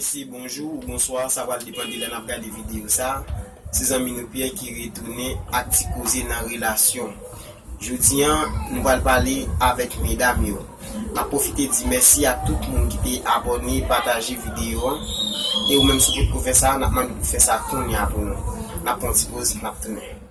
Mesye bonjou ou bonswa, sa pral depan de lè nap gade videyo sa Se zanmi nou Pierre ki retounen ak ti koze nan relasyon Jodi an nou pral pale avèk medam yo Map pwofite di mèsi ak tout moun ki te abòne, pataje videyo an E ou menm si w potko fè sa, nap mande pou w fè sa kounya pou nou Nap pran yon ti poz, nap tounen.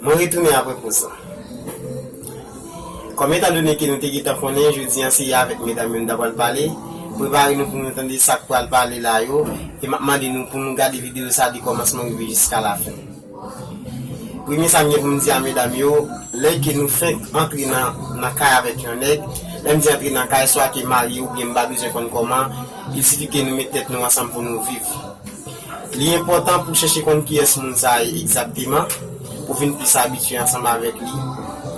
Mwen retounen apre poz la. Kòm etan done ke nou te gentan konnen jodi an se avèk medam yo nou ta pral pale, prepare nou pou nou tande sa k pral pale la yo e m ap mande nou pou nou gade videyo sa de kòmansman rive jiska lafen. Premye sa m gen pou m di a medam yo, lè ke nou fenk antre nan kay avèk yon nèg, lè m di antre nan kay, swa ke marye oubyen m pa bezwen konn kòman, il sifi ke nou met tèt nou ansanm pou nou viv. Li enpòtan pou w chèche konn kiyès moun sa a ye egzakteman, pou w vin plis abitye ansanm avèk li,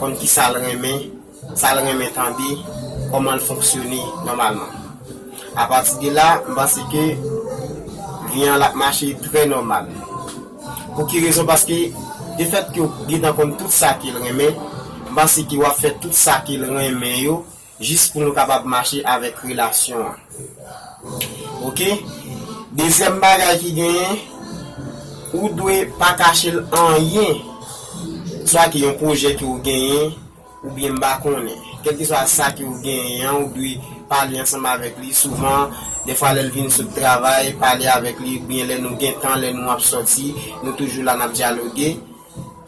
konn ki sa l renmen, sa l renmen tande, kòman l fonksyone nòmalman. Apati de la, m panse ke vi an l ap mache trè nòmal. Pou ki rezon? Paske defèt ke w gentan konn tout sa ke l renmen, m panse ke w ap fè tout sa ke l renmen yo Jis pou nou kapab mache avèk relasyon an. Ok. Dezyèm bagay ki genyen, ou dwe pa kache l anyen. Swa ki yon pwojè ke ou genyen, oubyen m pa konnen. Kèlkeswa sa ke ou genyen an, ou dwe pale ansanm avèk li souvan. Dèfwa lè l vin sot travay, pale avèk li, oubyen lè nou gen tan, lè nou ap sòti, nou toujou la n ap dyaloge.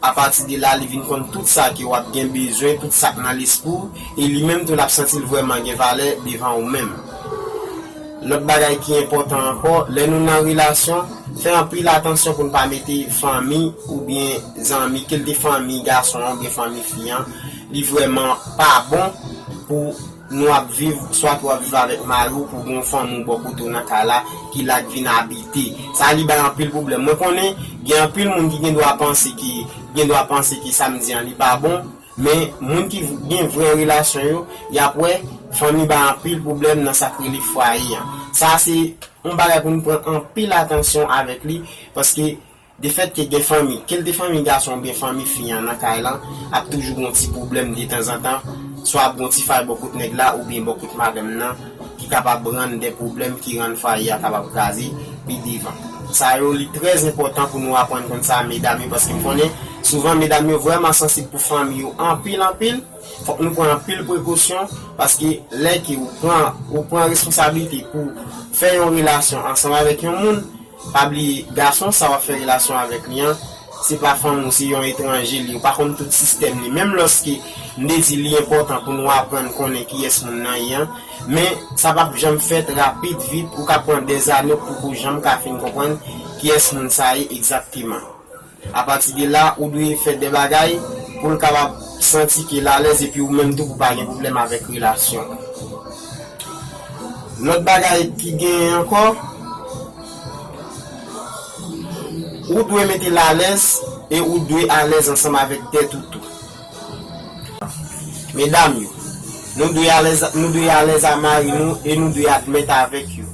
Apati de la, li vin konn tout sa ke w ap gen bezwen, tout sa k nan lespri w, e li menm tou l ap santi l vrèman gen valè devan ou menm. Lòt bagay ki enpòtan ankò, lè nou nan relasyon, fè anpil atansyon pou n pa mete fanmi oubyen zanmi, ke l te fanmi gason an oubyen fanmi fi an, li vrèman pa bon pou. Nou ap viv, swat ou ap viv avèk mari w pou gen yon fanmi w bò kote w nan kay la ki la k vin abite. Sa li bay anpil pwoblèm. Mwen konnen gen anpil moun ki gen dwa panse ke gen dwa panse ke sa m di an li pa bon, men moun ki gen vrè relasyon yo, y ap wè fanmi bay anpil pwoblèm nan sa k rele fwaye an. Sa se yon bagay pou nou pran anpil atansyon avèk li paske De fèt ke gen fanmi, ke l te fanmi gason oubyen fanmi fi an nan kay lan, ap toujou gen yon ti pwoblèm detanzantan, swa ap gen yon ti fay bò kot nèg la oubyen bò kot madanm nan ki kapab rann de pwoblèm ki rann fwaye a kapab kraze pi devan. Sa yo li trè zenpòtan pou nou aprann konn sa medam yo paske m konnen souvan medam yo vrèman sansib pou fanmi yo anpil anpil, fòk nou pran anpil prekosyon paske lè ke ou pran ou pran responsabilite pou fè yon relasyon ansanm avèk yon moun, Pa bliye gason sa wap fè relasyon avèk li an se pa fanmi w se yon etranje li ou pa konn tout sistèm li menm lòske m te di li enpòtan pou nou aprann konnen kiyès moun nan ye an men sa pap janm fèt rapid vit ou ka pran dèzane pou ou janm ka fin konprann kiyès moun sa ye egzakteman. Apati de la, ou dwe fè de bagay pou l kapab santi ke l alèz epi ou menm tou pou pa gen pwoblèm avèk relasyon an. Lòt bagay ki genyen ankò, ou dwe mete l alèz e ou dwe alèz ansanm avèk tèt ou tou. Medam yo, nou dwe alèz a mari nou e nou dwe admèt avèk yo.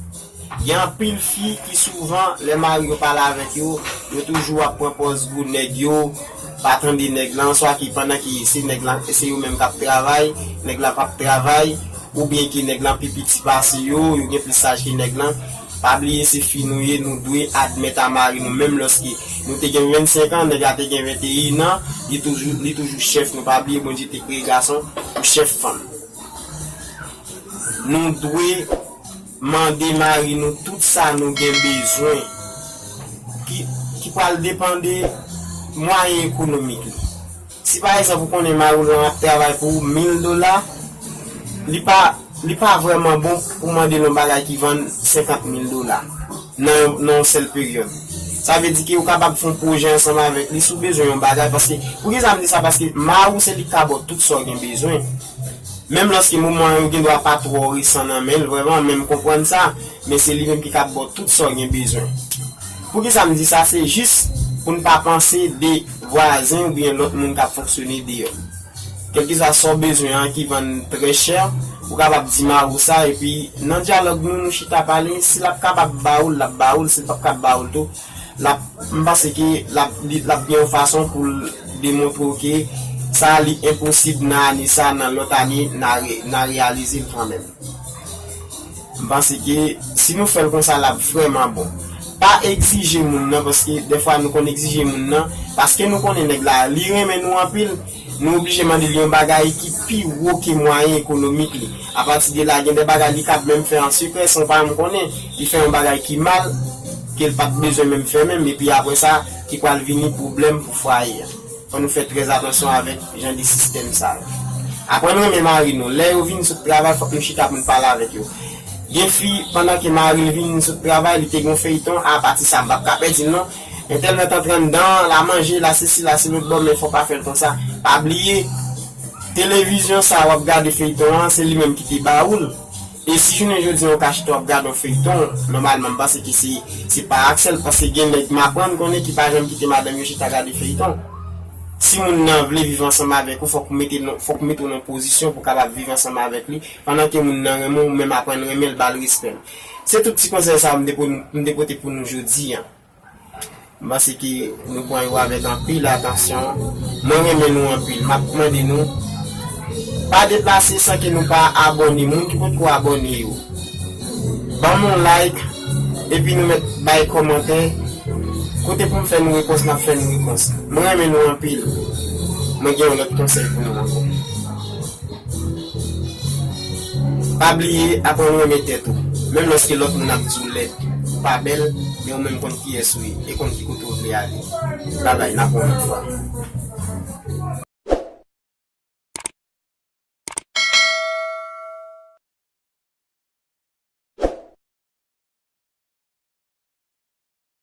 Gen anpil fi ki souvan lè mari yo pale avèk yo, yo toujou ap pran pòz pou nèg yo pa tande nèg lan swa ki pandan ki se nèg lan se yo menm kap travay, nèg lan pap travay oubyen ki nèg lan pi piti pase yo, yo gen plis laj ke nèg lan. Pa bliye se fi nou ye nou dwe admèt a mari nou menm lòske nou te gen 25 an nèg la te gen 21 an li toujou li toujou chèf nou pa bliye Bondye te kreye gason pou chèf fanm nou dwe Mande mari nou tout sa nou gen bezwen ki pral depande mwayen ekonomik li. Si pa egzanp ou konnen mari w lan ap travay pou ou 1000 dola, li pa vrèman bon pou mande l yon bagay ki vann 50 mil dola nan yon sèl peryòd. Sa vle di ke ou kapab fè yon pwojè ansanm avèk li si w bezwen yon bagay paske, poukisa m di sa paske mari w se li k ka ba w tout sa w gen bezwen. Menm lòske moman yo gendwa pa twò resan nan men l vrèman, men m konprann sa, men se li menm ki kab ba w tout sa w gen bezwen. Poukisa m di sa? Se jis pou n pa panse de vwazen oubyen lòt moun k ap fonksyone deyò. Kèlkeswa sa w bezwen an ki vann trè chè, ou kapab di Maro sa, epi nan dyalòg nou, nou chita pale, si l ap kapab ba ou l, l ap ba ou l, si l p ap kab ba ou l tou, Lap, m panse ke lap, lap gen yon fason pou l demontre w ke sa li enposib nan ane sa, nan lòt ane na, na reyalize l kanmèm. M panse ke si nou fè l konsa lap vrèman bon. Pa egzije moun nan paske dèfwa nou konn egzije moun nan paske nou konnen nèg la li renmen nou anpil, Nou oblije mande li yon bagay ki pi wo ke mwayen ekonomik li. A pati de la, gen de bagay li kab menm fè an sekrè, san w pa janm konnen, li fè yon bagay ki mal, ke l pat bezwen menm fè menm, epi apre sa, ki pral vini pwoblèm pou fwaye a. Fò nou fè trè atansyon avèk jan de sistèm sa yo. Aprann renmen mari nou. Lè yo vin sot travay, fòk nou chita pou n pale avèk yo. Gen fi, pandan ke mari l vin sot travay, li te gen yon feyton, a pati sa, m pap ka pèdi l non, Entènèt antre anndan, la manje, la sesi, la se lòt bò men fò w pa fè l konsa. Pa bliye, televizyon sa a w ap gade feyton an, se li menm ki te ba ou l. E si jounen jodi an ou ka chita w ap gade yon feyton, nòmalman m panse ke se se pa ak sèl paske gen nèg m aprann konnen ki pa janm kite madanm yo chita gade feyton. Si moun nan vle viv ansanm avèk ou fò k mete nan fò k mete w nan pozisyon pou w kapab viv ansanm avèk li pandan ke moun nan renmen w ou menm aprann renmen l ba l respè l. Se tout ti konsèy sa m te pote pou nou jodi an. M panse ke nou pran yo avèk anpil atansyon. Mwen renmen nou anpil. M ap mande nou pa deplase san ke nou pa abòne. Moun ki potko abòne yo, banm yon like epi nou mèt bay kòmantè kote pou m fè nou repons n ap fè nou repons. M renmen nou anpil. Mwen gen yon lòt konsèy pou nou ankò. Pa bliye aprann renmen tèt ou, menm lòske lòt moun ap di w lèd, ou pa bèl, men ou menm konn kiyès ou ye e konn ki kote w vle ale. Babay, n ap wè w lòt fwa.